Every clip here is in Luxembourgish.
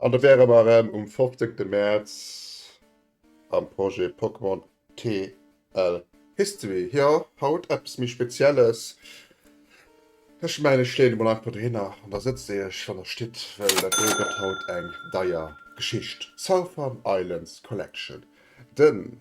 An da wäre mer erëm um 15 Mäerz. am Projet Pokémon TL History. Jo, haut eppes méi Spezielles. Ech mengen, ech leeën emol einfach dohinner an da sëtzt Dir Iech an der Stitt, well dat do gëtt haut eng deier Geschicht. Southern Islands Collection, den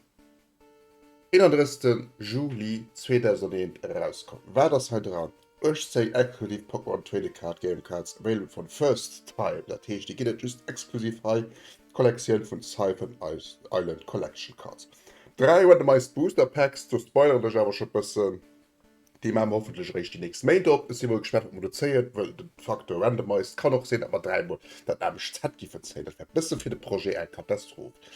31 Juli 2001 erauskomm. Wat ass hei dran? Ech zéi Eck hunn een Pokémon Trading Card Game Cards available for the first time, dat heescht déi ginn et just exklusiv hei, Kollektioun vun Siphon Island Collection Cards, 3 Randomized Booster Packs, do spoileren ech awer scho bëssen, déi maa mer hoffentlech eréischt déi nächst Méint op, ech si mol gespaant wat mer do zéien, wëll de Facteur Randomized kann och sinn dat mer 3 mol dat anescht Set giffen zéien, dat wär bësse fir de Projet eng Katastroph.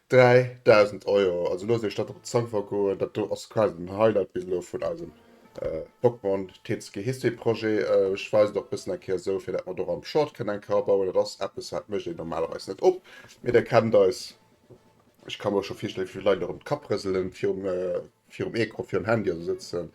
3000 Euro, also loosst iech dat op d'Zong vergoen, dat do ass quasi den Highlight bis elo vun eisem Pokémon TCG History Projet. Ech weisen och bëssen eng Kéier esou, fir dat mer do och am Short kënnen eng Kar bauen. Dat ass eppes, wat mécht een normalerweis net op, mee Dir kennt eis. Ech ka mer och scho virstellen, wéi vill Leit elo erëm d'Kapp rëselen virum Virum Ecran, virum Handy oder sou sëtzen.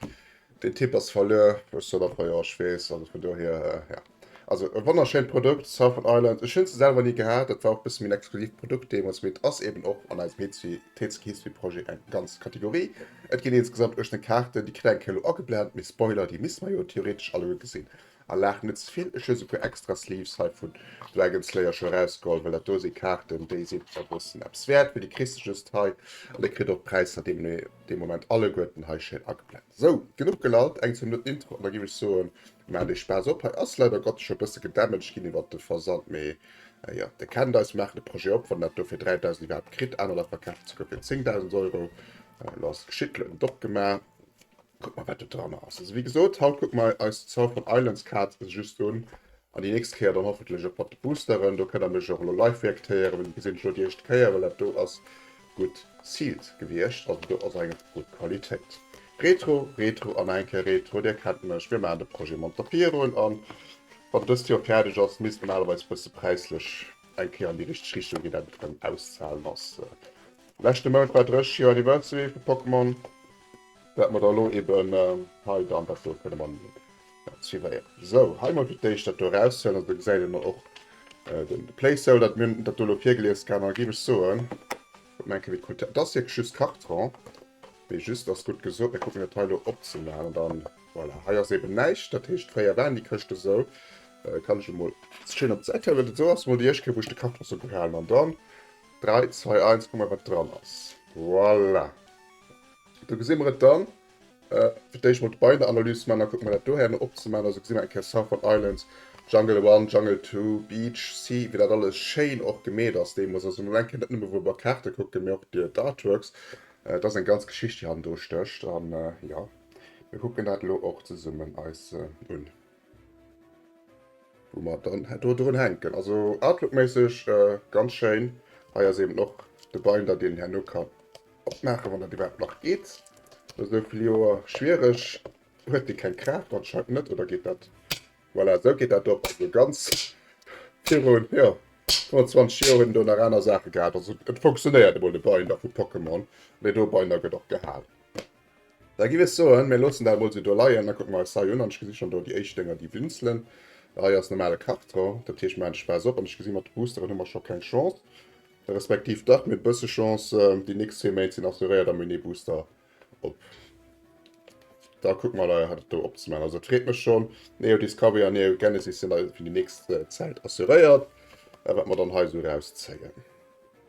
Den Typ ass verluer. Ech sot einfach jo, ech weess. Also vun dohier, ja. Also e wonnerschéint Produkt, Southern Island. Ech hunn se selwer ni gehat. Dat war och e bësse méin exklusiivt Produkt deemools. Mee et ass eben och an eisem Heetsfi, Tetsuki Heetsfi Projet eng ganz Kategorie. Et ginn insgesamt 18 Kaarten. Déi kritt eng Kéier elo ageblent, mee Spoiler, déi misst mer jo theoretesch alleguer gesinn. A laach net ze vill, ech hu se puer extra Sleeves hei vun Dragon Slayer scho erausgeholl, well dat do si Kaarten, déi sinn a bëssen eppes wäert, mee déi kriss de just hei an dir kritt och d'Präisser dee Moment alleguerten hei schéin ageblent. Sou, genuch gelallt, eng, zwou Minutten Intro an da géif ech soen, maacht eech Spaass op. Hei ass leider Gottes scho e bësse gedamaged ginn iwwert de Versand, mee jo, dir kennt eis, maachen de Projet op, wann en dat do fir 3.000 iwwerhaapt kritt, anerer verkafen et souguer fir 10.000 Euro, elo ass et geschitt, elo hunn et opgemaach. Kuck mer wat do dranner ass. Also wéi gesot haut kucke mer eis d' South of Islands Kaart just un an déi nächst Kéier dann hoffentlech och mat de Boosteren. Do kënnt der mech och elo live reaktéieren, well déi gesinn ech elo déi éischt Kéier, well dat do ass gutt sealed gewiescht, also do ass eng gutt Qualitéit. Retro, Retro an nach eng Kéier Retro. Dir kennt mech, mir maachen de Projet emol mat der Virun an wann dëst Joer fäerdeg ass, misst normalerweis e bësse präislech eng Kéier an déi richteg Richtung ginn, dat et erëm auszahlen ass. Leschte Mount war 30 Joer Anniversary vu Pokémon. Wat mer da elo eben hei dann dat do kënne man tiréieren. Esou, hei mol fir d'éischt dat do eraushuelen. Also do gesäit een elo och de Placeholder, dat mir hunn dat do elo virgelies kann. A géif ech soen, kucke mer eng Kéier wéi d'Qualitéit, dat ass wierklech just Karton, dee just ass, gutt gesot. Mir kucken dat hei elo opzemaachen, an dann, voilà, hei ass eben näischt. Dat heescht, fréier waren déi Këschte sou. Kann ech emol schéin op d'Säit huelen. Esou ass mol déi éischt Kéier wou ech de Karton sou gehalen, an dann 3, 2, 1, kucke mer wat dran ass. Voilà. Do gesi mer et dann. Fir d'éischt mol d'Beienanalys ze man, da kucke mer dat dohäno op ze man. Also gesi mer eng Kéier Southern Islands, Jungle One, Jungle Two, Beach, Sea, wéi dat alles schéin och gemeet ass deemools. Also mol eng Kéier net nëmme wou mer Kaarte kucken, mee och déi Artworks. Et ass eng ganz Geschicht déi hannendru stécht. An jo, mir kucken dat elo och zesummen eis un. Wou mer dann do drun hänken. Also Outlook-méisseg ganz schéin. Hei ass eben och de Binder, deen een herno kann opmaachen, wann dat iwwerhaapt nach geet. No esou vill Joer schwiereg. Huet dee keng Kraaft? Anscheinend net. Oder geet dat? Voilà, esou geet dat op. Also ganz virun, jo, 25 Joer huet een do nach aner Saache gehat. Also et fonctionéiert emol de Binder vu Pokémon. Mee do e Binder gëtt och gehal. Da giff ech soen, mir loossen dat emol sou do leien. Da kucke mer eis hei un, an ech gesi schonn do déi éischt Dénger, déi blinzelen. Hei ass normale Karton, dat heescht, mir maachen d'Space op, an ech gesi mat de Boosteren hu mer scho keng Chance. Respektiv dach, mir hunn e bësse Chance, déi nächst zwee Méint sinn assuréiert a mir hunn ee Booster op. Da kucke mer leider, dat do opzemaachen. Also et freet mech schonn, Neo Discovery an Neo Genesis sinn leider fir déi nächst Zäit assuréiert, wat mer dann hei sou erauszéien.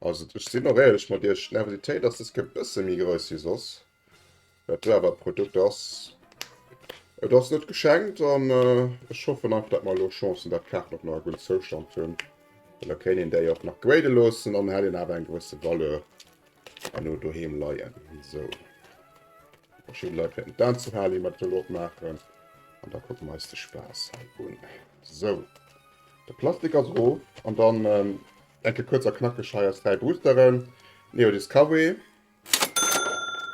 Also ech sinn och éierlech mat iech, d'Nervositéit ass dës Kéier e bësse méi grouss wéi soss. Dat do awer e Produkt ass, et ass net geschenkt an ech hoffen einfach, dat mer elo Chance hunn, dat d'Kaarten och nach e gudden Zoustand hunn. Well da kéint een déi och nach grade loossen an hätt een awer eng gewësse Valeur herno doheem leien. Sou. Verschidde Leit wäerten et anzou halen, déi mer dat elo opmaachen. An da kucke mer eis de Spaass hei un. Sou. De Plastik ass erof an dann. Enke kuerz a knackeg hei eis 3 Boosteren, Neo Discovery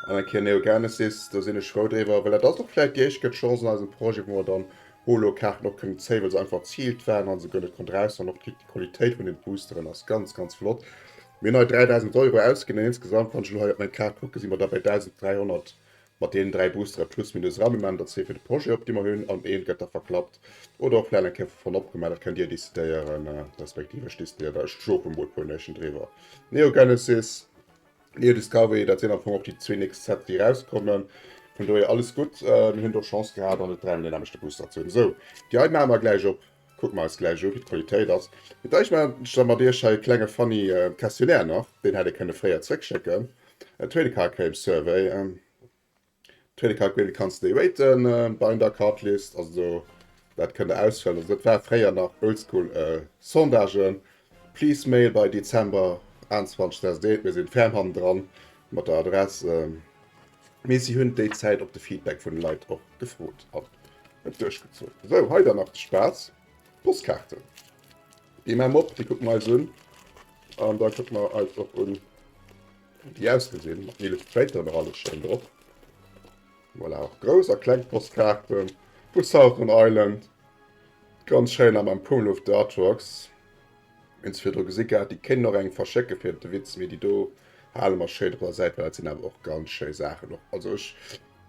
an eng Kéier Neo Genesis. Do sinn ech frou driwwer, well dat ass och vläicht déi éischt gëtt Chance an eisem Projet, wou mer dann Holo-Kaarten och kënnen zéien, well se einfach ziilt waren a se guer net konnte raushauen. Och d'Quick, déi Qualitéit vun den Boosteren ass ganz, ganz flott. Mir hunn hei 3.000 Euro ausginn an insgesamt, wann ech elo hei op meng Kaart kucken, si mer da bei 1.300 Mat deenen 3 Boostere plus minus Rendement, dat ass dee fir de Projet op dee mer hunn, an eent gëtt da verklappt oder och vläit eng Kéier vu Fonn opgemaach, dat kënnt Dir décidéieren, respektiv ech décidéiere da. Ech schlofen mol puer Nuechten driwwer. Neogenesis, Neodiscovery, dat sinn am Fong och déi zwee nächst Sete déi erauskommen. Vun dohier alles gutt. Mir hunn do Chance gehat an et 3 mol deen aneschte Booster ze hunn. Sou, déi hei maache mer gläich op. Kucken mer eis gläich u wéi d'Qualitéit ass. Dach ech maache mat iech hei e klenge funny Questionnaire nach. Deen hätt ee kënne fréier zréck schécken. Trading Card Game Survey Trading Card Game kanns de déi raten, Binder a Card List, also dat kënnt der ausfëllen. Also dat war fréier nach oldschool Sondagen. Please mail by Dezember 21 2001, mir sinn ferm hannendran mat der Adress. Mee si hunn déi Zäit op de Feedback vun de Leit och gefrot an et duerchgezunn. Sou, hei dann nach de Spaass, Postkaarten. Déi maache mer op, déi kucke mer eis un an da kucke mer eis och un, wéi déi ausgesinn, mat Illustrator nach alles schéin drop. Voilà, och grouss a kleng Postkaarte vu Southern Island, ganz schéin, nach mam Pummeluff de Artworks. Hun se virdru gesi gehat, déi kéinten och engem verschécke fir de Witz, mee déi do haale mer schéin op der Säit, well dat sin awer och ganz schéi Saachen och. Also ech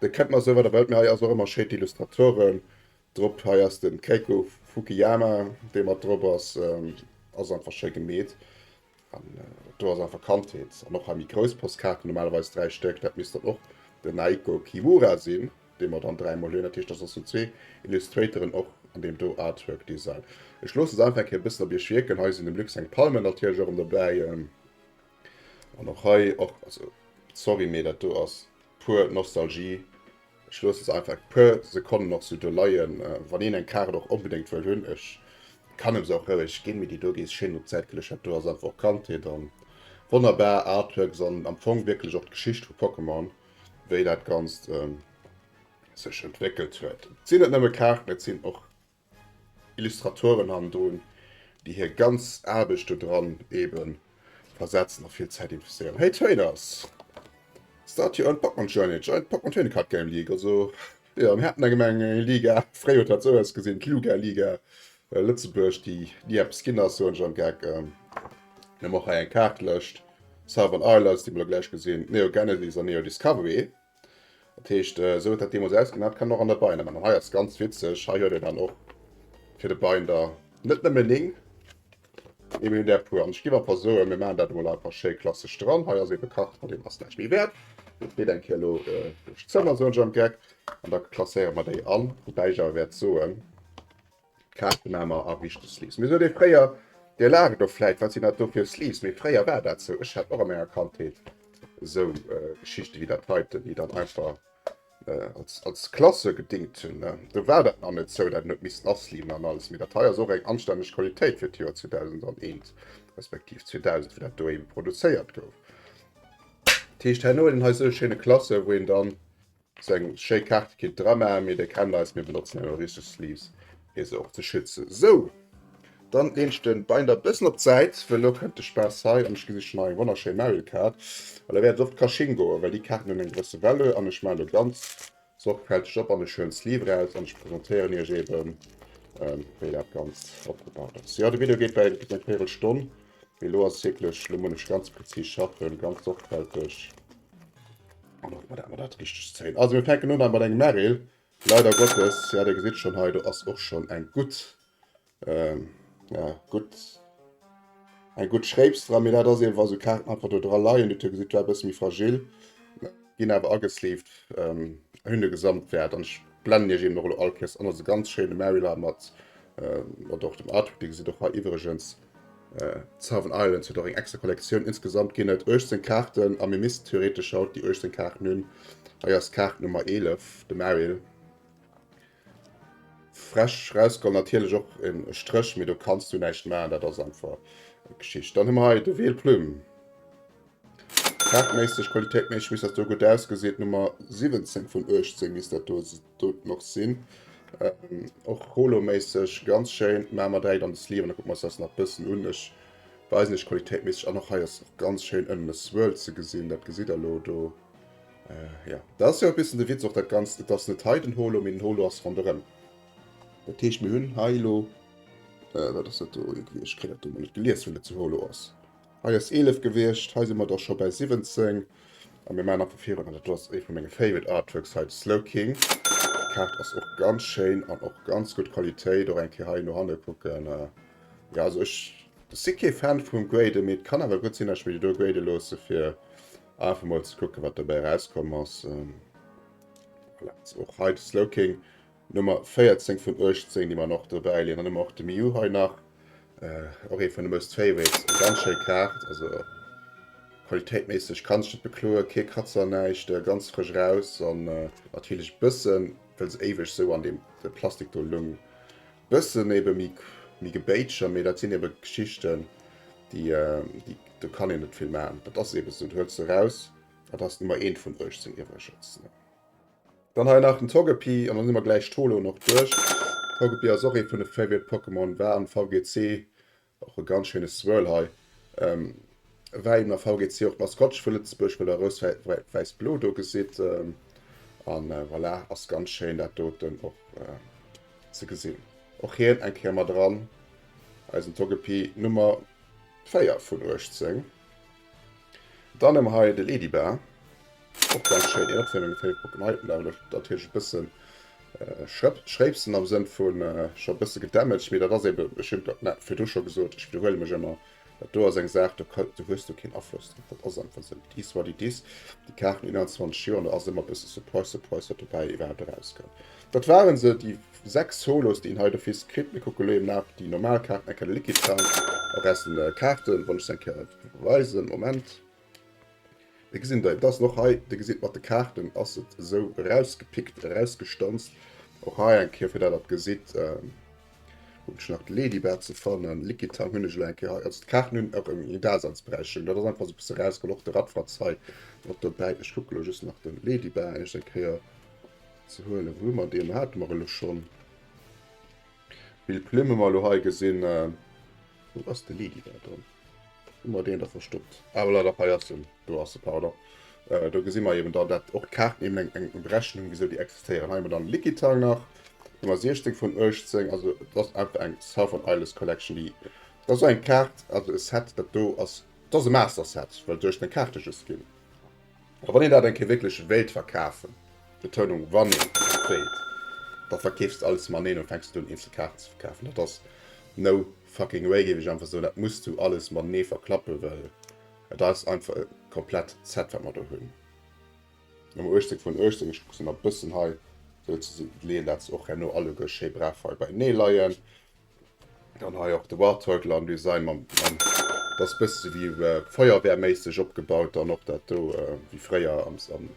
de kennt mer souwat erwelt, mee hei ass och emmer schéi d'Illustratoren drop, hei ass den Keiko Fukiyama dee mat drop ass, ass einfach schéi gemeet an do ass einfach Kandheet. An och hei méi grouss Postkaarten, normalerweis 3 Stéck, dat misst dann och den Naiko Kiwura sin. Dee mer dann dräimol hunn. Dat heescht, dass ass hu zwee Illustratoren och an deem do Artwork Design. Ech loosse se einfach eng Kéier e bëssen op Iech wierken. Hei sinn dem Luxe seng Palmen natierlech och ëm dobäi. An och hei och, also sorry, mee dat do ass puer Nostalgie. Ech loosse se einfach e puer Sekonnen och sou do leien. Wann een eng Kaart och onbedéngt wëll hunn, ech kann em se och roueg ginn, mee déi do gees schéin op Zäit geluecht. Dat do ass einfach och Kandheet a wonnerbar Artworks an am Fong wierklech och d'Geschicht vu Pokémon. wéi dat Ganzt sech entwéckelt huet. Et sinn net nëmme Kaarten, et sinn och Illustratoren hannendrun, déi hir ganz Aarbecht do dran eebe versetzen a vill Zäit investéieren. Hey Trainers! Start your own Pokémon Journey, join Pokémon Trading Card Game League! Also, Jo, mir haten erëm eng Liga. Fréi huet dat esou ausgesinn, d'Luga Liga Lëtzebuerg, déi ni eppes ginn ass, soen ech am Geck. Mir hunn och hei eng Kaartlëscht, Southern Isles, déi mer elo gläich gesinn, Neo Genesis an Neo Discovery. Dat heescht, esou huet dat deemools ausgesinn. Dat kann een och an der Binder maachen. An hei ass ganz witzeg, hei huet een dann och fir de Binder net nëmme néng. Et mir der puer an ech gi mat der soe mir man dat mol einfach schéi klasseg dran hei ass ebe kacht an dem ass näicht méi wäert fir eng kilo zëmmer so am geck an da klasséiere mat déi an wobei ich awer wäert soen kachte mamer a richte sleeves mir so de fréier der lage do fläit wat sinn dat do fir sleeves méi fréier war dat sou ech hat och a menger kandheet sou geschichte wie dat heiten die dann einfach Als Klasse gedingt hunn. Do war dat nach net sou, dat en huet missten asleeven an alles. Mee dat hei ass och eng anstänneg Qualitéit fir d'Joer 2001, respektiv 2000, wou dat do eben produzéiert gouf. Dat heescht, herno huet een hei sou e schéine Klasse, wou een dann seng schéi Kaarte kéint dramaachen. Mee Dir kennt eis, mir benotzen herno richteg Sleeves. fir se och ze schützen. Sou, dann leen ech den Binder bessen op d'Seit, well lo kennt de Spaass hei an ech gesicht schon hei eng wonnerschéin Mario Kart. An da wärt ech och d'Caching goen, well déi Kaarten hun eng gewësse Valeur. An ech maan lo ganz sorgfälteg op an ech huelen d'Sleeve eraus an ech presentéieren iech eben wéi dat Ganzt opgebaut ass. Jo, de Video geet bei eng véirel Stonn, mee lo ass wierklech, lo mun ech ganz präzis schaffen, ganz sorgfälteg an och mat dat richtegt zéien. Also mir fänken un hei mat engem Meryl, Leider Gottes, ja, Dir gesitt schonn, hei do ass och schonn eng gutt, ja, gutt, eng gutt Schréips dra. Mee dat ass ebe wa sou Kaarten einfach do dra leien, Dir gesitt, war e bësse méi fragil, ginn awer agesleeved, hunn e Gesamtwäert. An ech blennen Iech eben och elo all Kéiers an. Ass e ganz schéine Marylar mat, mat och dem Artwork. Dir gesitt och hei iwwregens, Seven Islands huet och eng extra Kollektioun. Insgesamt ginn et 18 Kaarten a mir missten theoretesch haut déi 18 Kaarten hunn. Hei ass Kaart Nummer 11, de Merrill. Fresch rausgeholl natierlech och e Stréch, mee do kanns du näischt maachen, dat ass einfach Geschicht. Dann hu mer hei de Weel Plume. Farbméisseg, qualitéitméisseg misst dat do gutt ausgesinn. D'Nummer 17 vun 18 misst dat do doten och sinn. Ähm, och holoméisseg ganz schéin. Mä mer dräi dann de Sleeve an da kucke mer eis das nach bëssen un. Ech weisen iech qualitéitméisseg an. Och hei ass och ganz schéin ënnen e Swirl ze gesinn. Dat gesitt der elo do. Äh, ja. Dat ass jo e bëssen de Witz och dat Ganzt. Et ass net hei den Holo, mee den Holo ass ronderëm. Dat heescht mir hunn hei elo, äh, wat ass dat do? Ech kréien dat do emol net gelies, wéi dat zu Holo ass. Hei ass 11 gewiescht, hei si mer da scho bäi 17 a mir maachen nach vu virun. An et ass ee vu menge favorite Artworks hei, de Slowking. D'Kaart ass och ganz schéin an och ganz gutt Qualitéit. Och eng Kéier hei no hanne kucken. Jo, also ech si kee Fan vum Graden, mee et kann awer gutt sinn, datt ech mir déi do graden loosse fir einfach emol ze kucken, wat dobäi erauskomm ass. Voilà, also och hei de Slowking. Nummer 14 vun 18 déi mer och dobäi leeën. Dann hu mer och de Miu hei nach, och ee vun de Most Favorites. Eng ganz schéi Kaart, also qualitéitméisseg kann sech net bekloen, kee Kratzer, näischt, ganz frësch raus. An natierlech bëssen, well se éiweg esou an deem Plastik do lung, bëssen ebe méi gebéitscher, mee dat sinn ebe Geschichten, déi, do kann een net vill maachen. Dat ass ebe esou, dat huels de raus, dat ass d'Nummer 1 vun 18 iwwregens. Dann hei nach den Togepi an dann hu mer gläich d'Holoen och duerch. Togepi ass och ee vun de Favorite Pokémon, war am VGC och e ganz schéine Swirl hei. Ähm, war eben am VGC och d'Maskottche vu Lëtzebuerg, well der Rous-Wäiss-Blo do gesitt. Ähm, an äh, voilà, ass ganz schéin dat doten och äh, ze gesinn. Och hien eng Kéier mat eran, eisen Togepi Nummer 4 vun 18. Dann hu mer hei de Ledybar, och ganz schéin. Een Opwiermung fir de Pokémon Level ass natierlech e bësse schréipsen am Sënn vu scho e bësse gedamaged, mee dat ass eebe, ech hunn dat virdu scho gesot, ech widderhuele mech ëmmer, dat do ass eng Saach, do hues du keen Afloss drop, dat ass einfach esou. It is what it is, déi Kaart hunn 21 Joer an do ass ëmmer e bësse Surprise, Surprise, wat dobäi iwwerhaapt erauskënnt. Dat waren se, déi 6 Solos déi een hei d'office kritt. Mir kucken elo eben nach déi normal Kaarten, eng Kelle Liquid Sound, a Resten Kaarten, wann ech se eng Kéier einfach weisen. Moment. Déi gesinn der eben, dat ass och hei, dir gesitt mat de Kaarten ass et esou erausgepickt, erausgestanzt. Och hei eng Kéier fir dat der gesitt, hunn ech nach d'Ladybird ze fannen, Liquid Sound hunn ech elo eng Kéier hei, also d'Kaarten hunn och eng Daseinsberechtchung, dat ass einfach esou e bësse erausgeholl, och de Radfratz hei mat dobäi. Ech kucke elo just nach de Ladybird eischt eng Kéier. Ze huelen. Wou hu mer deen? Hate mer elo schonn. Vill Plumme mer elo hei gesinn. Wou ass de Lady da dran? Hu mer deen da verstoppt? Ah, voilà, da hei ass en. Do ass e, pardon. Äh, do gesi mer eben dann, dat och d'Kaarten eben eng, eng Berechnung hunn, wisou déi existéieren. Hei hu mer dann Likitang nach. Do hu mer 16 vun 18. Also, et ass einfach eng Southern Isles Collection, déi. Dat ass eng Kaart, also e Set, dat do ass. Dat ass e Master Set, well 16 Kaarte just ginn. A wann een dat eng Kéier wierklech wéilt verkafen, Betounung wann een wéilt, da verkeefs de alles maneen an fänks net un eenzel Kaarten ze verkafen. Dat ass no fucking way géif ech einfach soen. Dat muss du alles matenee verklappen, well et ass einfach e komplett Set wat mer do hunn. Nummer 18 vun 18, ech kucke se nach e bëssen hei sou ze leeën dat se och herno alleguer schéi brav hei beienee leien. Dann hei och de War Turtle am Design mam mam dat ass bësse wéi Feuerwehrméisseg opgebaut dann och dat do wéi fréier am am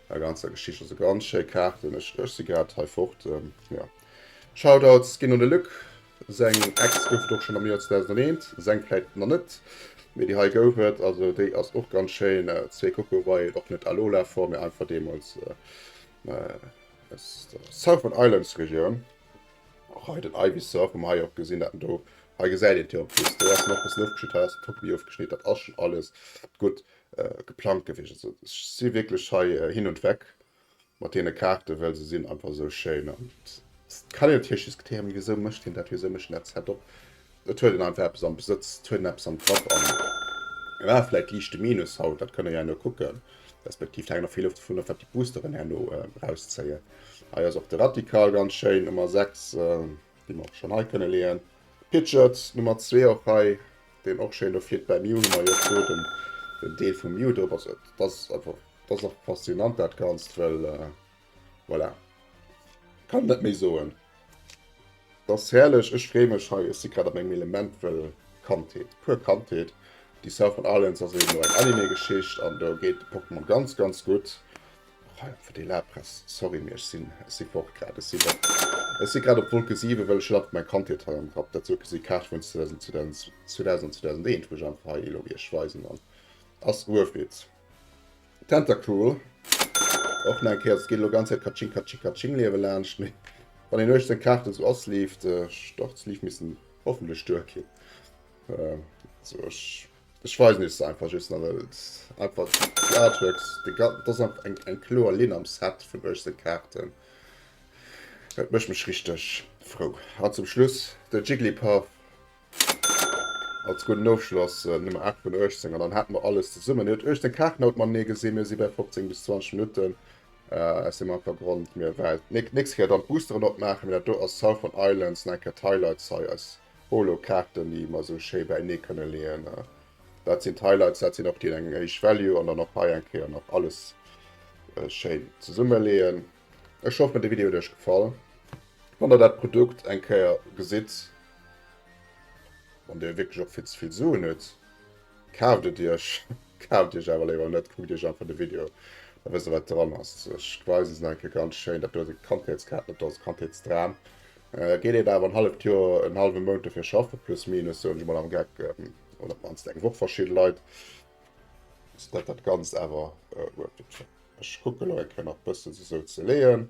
der ganzer Geschicht. Also ganz schéi Kaarten. Ech ech si grad hei fort. Jo Shoutouts ginn un de Luc. Seng Ex gouf et och schonn am Joer 2001, seng vläit nach net, mee déi hei gouf et. Also déi ass och ganz schéin. Zwee Coco Violet, och net Alola Form, mee einfach deemools aus der Southern Islands Regioun. Hei den Eiwis seur vum hei och gesinn dat en do hei gesäit een op just do ass nach bessen ofgeschnitt hei ass den Topi ofgeschnitt dat ass schon alles gutt geplangt gewiescht also ech si wierklech hei hin und weg mat deene Kaarten well se sinn einfach esou schéin an et kann een natierlech diskutéieren wisou mécht hien dat wisou mécht hien dat Setup Et huet en einfach eppes am Besëtz, et huet en eppes am Grapp an et war vläit liicht de Minus haut, dat kënnt Der jo herno kucken, respektiv et hänkt och vill of dovun of, wat déi Boosteren herno erauszéien. Hei ass och de Radical ganz schéin, Nummer 6, déi mer och schonn hei kënne leeën. Pidgeot, Nummer 2, och hei, deen och schéin do flitt. Bei Mew hu mer jo do den Deel vum Mew drop, also dat ass einfach, dat ass einfach faszinant dat Ganzt, well Voilà. Kann net méi soen. Dass herrlech, ech free mech hei, ech si grad a mengem Element, well Kandheet, puer Kandheet. Déi Southern Islands ass eben och eng Anime Geschicht an do geet de Pokémon ganz ganz gutt. Och hei fir déi Lapress, sorry mee ech sinn, ech si fort grad, ech sinn, ech si grad op Wolke 7 well ech hunn einfach meng Kandheet hei am Kapp. Dat sou gesi Kaarte vun 2000 an 2001 wou ech einfach hei elo iech weisen an ass Uew Ried. Tentacool, och nach eng Kéier, et geet elo ganz Zäit Katsching Katsching Katsching Liewe laanscht, mee wann een uecht seng Kaarten sou ass leeft d'Start d'Start ze leave missten hoffentlech duer ginn. Sou ech ech weisen iech se einfach just nach, well et einfach déi Artworks de ga et ass einfach eng eng kloer Linn am Set vun uecht seng Kaarten. Dat mécht mech richteg frou. An zum Schluss de Jigglypuff. Als gudden Ofschloss Nummer 8 vun 18 an dann hat mer alles zesummen. Dir huet euch den Kaart haut man nee gesinn, mir si bei 15 bis 20 Minuten äh, si man vergrond mir Welt. Nächste Keer dann Boosteren opmachen, mir dat do ass Southern Islands, nein Cat Highlights hei als Holo-Kaarten, déi mer sou schéi bei nee kënne leeën. Äh, dat sinn d'Highlights, dat sinn och déi eng Age Value an dann och hei eng Kéier nach alles äh, schéin zesumme leeën. Ech hoff mir de Video huet iech gefall. Wann der dat Produkt eng Kéier gesitt, wann dir wierklech och vill ze vill Suen hutt, kaaft et iech. Kaaft iech awer léiwer net, kuckt iech einfach de Video, da wësst der wat dran ass. Ech weisen se nach eng Kéier ganz schéin, dat do ass e Kandheetskat, dat do ass e Kandheetsdram. Geet een awer en halleft Joer, en hallwe Mount dofir schaffen, plus minus soen ech emol am Geck, oder op d'mannst eng Woch verschidde Leit, ass dat dat Ganzt awer wuert. Ech kucken nach eng Kéier nach bëssen se sou ze leeën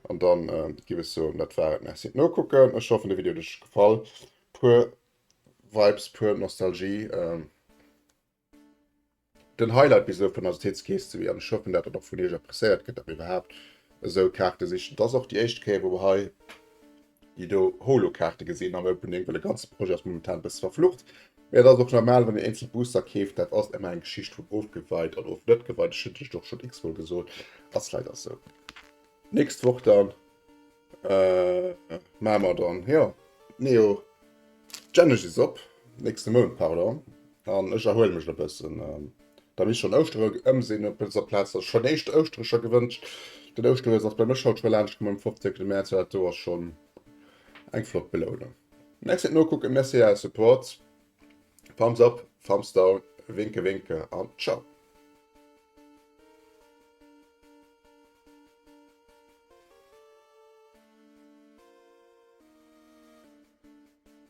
an dann giff ech soen dat war et. Merci fir d'Nokucken, ech hoffen de Video huet iech gefall. Puer Vibes, puer Nostalgie, den Highlight bis elo vun der Sozieteetskeess ze wieren. Ech hoffen dat dat och vun iech appreciéiert gëtt, dat mir iwwerhaapt esou Kaarte sichen. Et ass och déi éischt Kéier wou mer hei. déi do Holo-Kaarte gesinn am Opening, well de ganze Projet ass momentan e bësse verflucht. Mee dat ass och normal, wann een eenzel Booster keeft, dat ass ëmmer eng Geschicht vun ofgeweit an of net geweit, ech hunn lech dat och schonn x-mol gesot, ass leider esou. Nächst Woch dann maache mer dann, jo, Neo Genesis op, nächste Mount, pardon. An ech erhuele mech e bëssen. Beim is schon Ouschtere ëmsinn op dëser Plaz sech schon éischt Ouschterecher gewënscht. Den Ouschteries ass bei mech haut schon laanscht komm um 15 Mäerz, dat do ass schon eng flott Belounung. Merci fir d'Nokucken, merci fir äre Support. Thumbs up, Thumbs down, Winke Winke an Ciao.